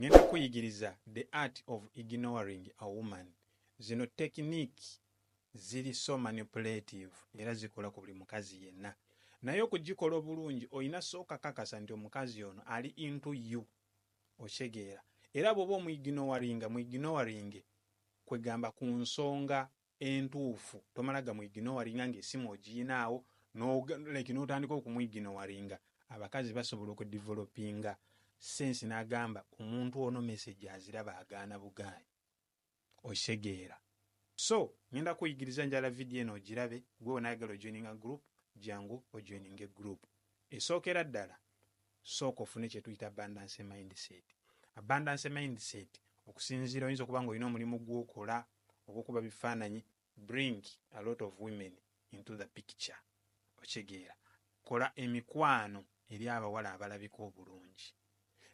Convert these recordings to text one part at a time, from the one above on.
ngenda kuyigiriza the art of ignoring a woman zino tekiniki ziri so manipulative era zikola ku buli mukazi yenna naye okugikola obulungi olina sooka kakasa nti omukazi ono ali into you okitegeera era bwoba omwiginowaringa mwiginowaringe kwegamba ku nsonga entuufu tomala gamu ignowaringa nga esimu ogiyinaawo no like notandika okumu ignowaringa abakazi basobola oku developinga sense nagamba omuntu ono message aziraba agaana bugaanyi okitegeera so ngenda kuyigiriza njala video eno ogirabe gwe wena ayagala ojoininga group jangu ojoininge group esookera ddala sooka ofune kyetuyita abundance mindset. Abundance mindset okusinziira oyinza okuba nga olina omulimu gwokola ogwokuba bifaananyi bring a lot of women into the picture okitegeera kola emikwano eri abawala abalabika obulungi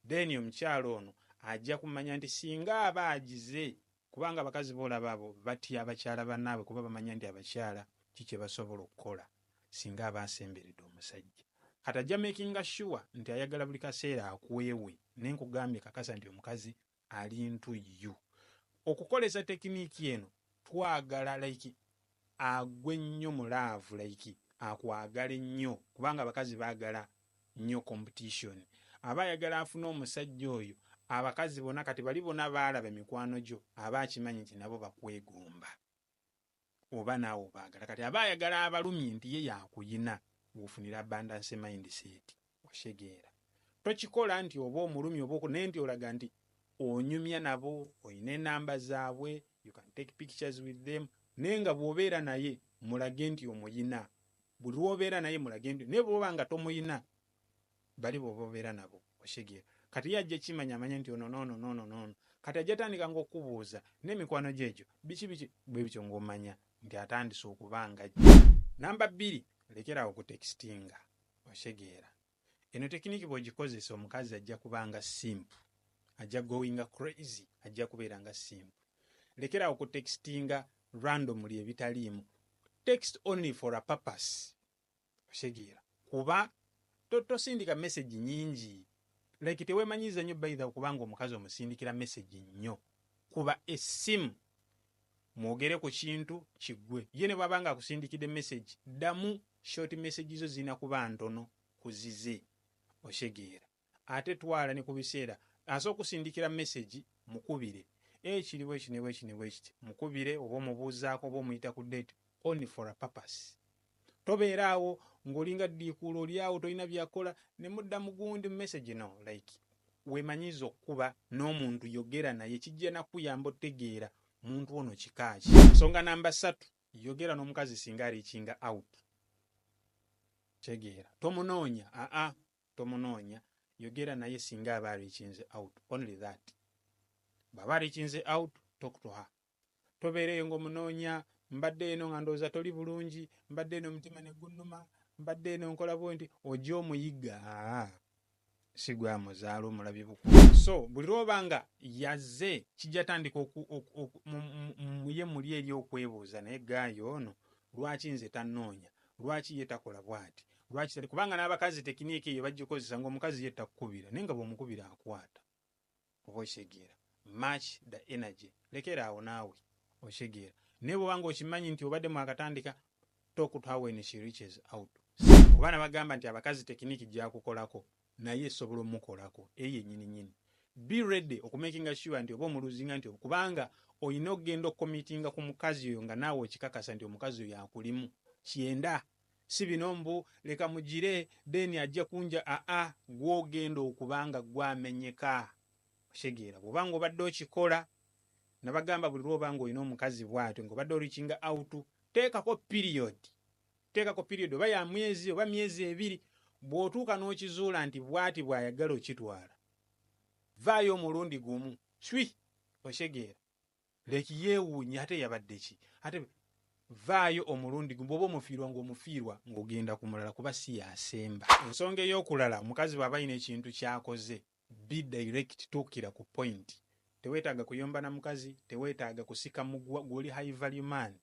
then omukyala ono ajja kumanya nti singa aba agize Kubanga abakazi bolaba abo batya bakyala banaabwe kuba bamanya ndi abakyala ki kyebasobola okukola singa aba asemberede omusajja kati ajja makinga sure nti ayagala buli kaseera akwewe naye nkugambye kakasa nti omukazi alintu you okukolesa tekiniki eno twagala like agwe nnyo mu love like akwagale nnyo kubanga abakazi bagala nnyo competition aba ayagala afune omusajja oyo abakazi bona kati bali bona balaba emikwano gyo aba akimanyi nti nabo bakwegomba oba naawe obagala kati aba ayagala abalumye nti ye yakuyina wofunira abundance mindset. Oshegera. Tokikola nti oba omulumya oba oku naye nti olaga nti onyumya nabo oyina enamba zabwe you can take pictures with them naye nga bwobeera naye mulage nti omuyina buli lwobeera naye mulage nti naye bwoba nga tomuyina bali bobobeera nabo oshegera kati ye ajja kimanya amanye nti ono nono nono nono kati ajja tandika nga okubuuza nemikwano gyo egyo biki biki bwebityo nga omanya nti atandise okuba nga namba bbiri lekerawo okutextinga Okitegeera. Eno tekiniki bwogikozesa omukazi ajja kuba nga simp. Ajja goinga crazy. Ajja kubeera nga simp. Lekera awo ku textinga randomly ebitaliimu. Text only for a purpose. Okitegeera. Kuba to, tosindika message nyingi Like tewemanyiza nyo by the kubanga omukazi omusindikira message nyo kuba esimu mwogere kukintu kigwe ye nebwaba nga akusindikide message damu short message zo zirina kuba ntono kuzize okitegeera ate twala nekubiseera asobola okusindikira message mukubire eeh kiri bwekiti nebwekiti nebwekiti mukubire oba omubuuzaako oba omuyita ku date only for a purpose tobeera awo ng'olinga ddiikuula oli awo tolina byakola ne mudda mu gundi mu message no like weemanyiize okukuba n'omuntu yogera naye kijja na kukuyamba otegeera muntu ono kika ki. Ensonga namba ssatu yogera n'omukazi singa ariikinga out kitegeera tomunoonya aa tomunoonya yogera naye singa aba ariikinze out only that bw'aba ariikinze out talk to her tobeereyo ng'omunoonya, mbadde eno nga ndowooza toli bulungi, mbadde eno omutima ne gunnuma, mbadde eno nkola bwenti, ojja omuyiga si gwe amuzaala omulabye bukulu. So buli lw'oba nga yazze kijja tandika muye muli eri okwebuuza naye gaayi ono lwaki nze tannoonya, lwaki ye takola bwati lwaki tali kubanga n'abakazi tekiniika eyo bagikozesa ng'omukazi ye takukubira naye nga bw'omukubira akwata. oba okitegeera match the energy lekera awo naawe okitegeera naye bwoba nga okimanyi nti obadde mwakatandika talk to her when she reaches out oba nabagamba nti abakazi tekiniki gyakukolako naye esobola omukolako eyo yenyini nyini be ready okumakinga sure nti oba omuluzinga nti kubanga olina okugenda okukomitinga ku mukazi oyo nga naawe okikakasa nti omukazi oyo akulimu kyenda si bino mbu leka mugire then ajja kunja aa gwe ogenda okuba nga gwe amenyeka okitegeera bwoba nga obadde okikola nabagamba buli lwoba nga olina omukazi bwatyo nga obadde orikinga out teekako period teekako period oba ya mwezi oba myezi ebiri bwotuuka n'okizuula nti bwati bwayagala okitwala vaayo omulundi gumu shwi okitegeera Leki yeewuunya ate yabadde ki? Ate vvaayo omulundi gumu, bw'oba omufiirwa ng'omufiirwa ng'ogenda ku mulala kuba si y'asemba. Ensonga ey'okulala, omukazi bw'aba alina ekintu ky'akoze, be direct, tuukira ku point. Teweetaaga kuyomba na mukazi, teweetaaga kusika muguwa, ggwe oli high value man.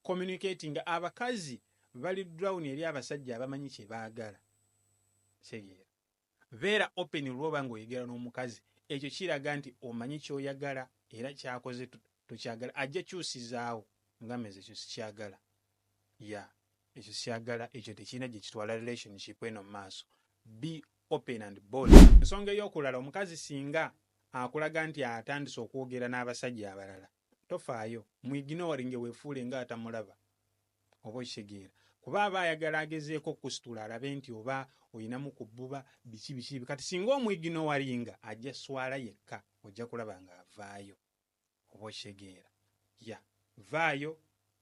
Communicatinga, abakazi bali drawn eri abasajja abamanyi kye baagala. Kitegeera. Beera open lwoba nga oyogera nomukazi ekyo kiraga nti omanyi kyoyagala era kyakoze tokyagala ajja kyusizaawo ngamazi ekyo sikyagala ya ekyo sikyagala ekyo tekirina gyekitwala relationship eno mumaaso be open and bold. Ensonga eyokulala omukazi singa akulaga nti atandise okwogera n'abasajja abalala tofaayo mu ignoring wefuule nga atamulaba oba okitegeera kuba aba ayagala agezeeko okusitula alabe nti oba olinamu ku bbuba biki biki kati singa omu ignoring ajja swala yekka ojja kulaba nga avaayo oba okitegeera ya vaayo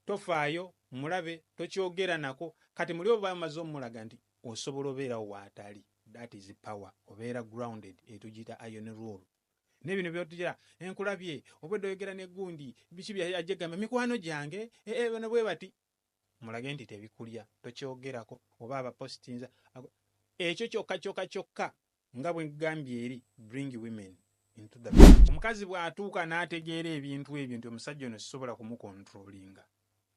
tofaayo mulabe tokyogera nako kati muli oba omaze omulaga nti osobola obeerawo waatali that is power obeera grounded etugiyita iron rule nebino byotya enkulabye obwedda oyogera ne gundi biki byajegamba mikwano gyange ee eh, eh, bano bwe bati mulage nti tebikulya tokyogerako oba abapositinza ekyo kyokka kyokka kyokka nga bwe gambye eri bring women into the omukazi bw'atuuka n'ategeera ebintu ebyo nti omusajja ono sisobola kumukontrolinga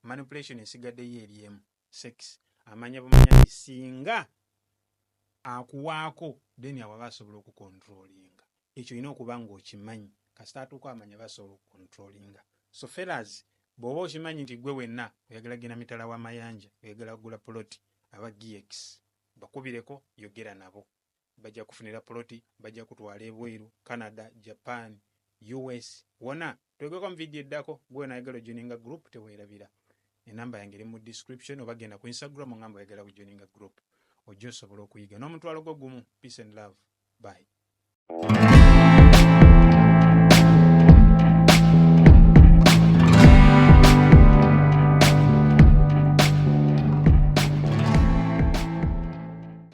manipulation esigaddeyo eri emu sex amanya bumanya nti singa akuwaako then awo aba asobola okukontrolinga ekyo olina okuba ng'okimanyi kasita atuuka amanya aba asobola okukontrolinga so felas bw'oba okimanyi nti gwe wenna oyagala genda mitala wa mayanja oyagala kugula poloti aba gx bakubireko yogera nabo Bajja kufunira poloti, bajja kutwala ebweru, Canada, Japan, US wona. Twegako mu video eddako. Gwe wena ayagala ojoininga group tewerabira. Enamba yange eri mu description oba genda ku Instagram ongambe oyagala ku joininga group. Ojja osobola okuyiga n'omutwalo gwo gumu. Peace and love. Bye.